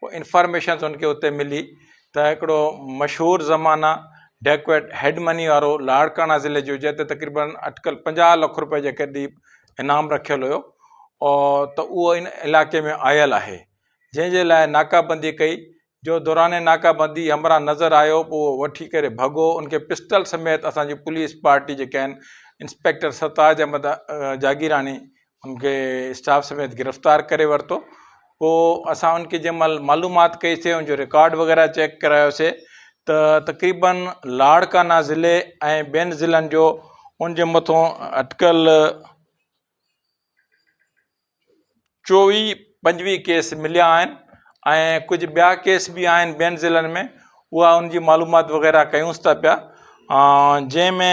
ڪو انفارميشن ان کي اتي ملي ته هڪڙو مشهور زمانه ڊيڪويٽ هيڊ مني وارو لاڙڪاڻا ضلعي جو جنهن تي تقريبن اٽڪل پنجاهه لک روپئي جي قريب انعام رکيل هيو ته اهو ان علاقي ۾ آيل آهي جنهن جي لاء ناڪابندي ڪئي جو دوران ناڪابندي همراهه نظر آيو پوء اهو وٺي ڪري ڀڳو ان کي پسٽل سميت اسان جي پوليس پارٽي جيڪي آهن انسپيڪٽر سرتاج احمد جاگيراڻي ان کي اسٽاف سميت گرفتار ڪري ورتو پوء اسان ان کي جنهن مهل معلومات ڪئيسي ان جو رڪارڊ وغيره چيڪ ڪرايوسي ته تقريبن لاڙڪانا ضلعي ۽ ٻين ضلعن جو ان جي مٿو اٽڪل چوي پنجويهه ڪيس مليا آهن ۽ ڪجهه ٻيا ڪيس به آهن ٻين ضلعن ۾ اها ان جي معلومات وغيره ڪيونس ٿا پيا جنهن ۾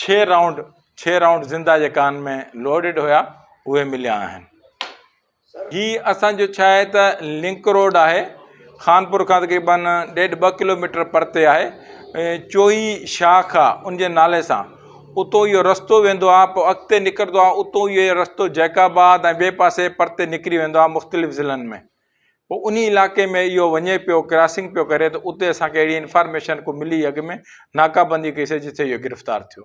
ڇهه رائونڊ ڇهه رائونڊ زنده جيڪا ان ۾ لوڊيڊ هيا اهي مليا آهن هي اسانجو ڇا آهي ته لنڪ روڊ آهي خانپور کان تقريبن ڏيڍ ٻه ڪلوميٽر پرتي آهي چوئي شاخ آ ان جي نالي سان اتو اهو رستو ويندو آ پوء اڳتي نڪرندو آ اتو اهو رستو جيڪ آباد ۽ ٻئي پاسي پرتي نڪري ويندو آ مختلف ضلعن ۾ پوء انهي علاقي ۾ اهو وڃي پيو ڪراسنگ پيو ڪري ته اتي اسان کي اهڙي انفارميشن ڪو ملي اڳ ۾ ناڪابندي ڪئي سي جتي اهو گرفتار ٿيو.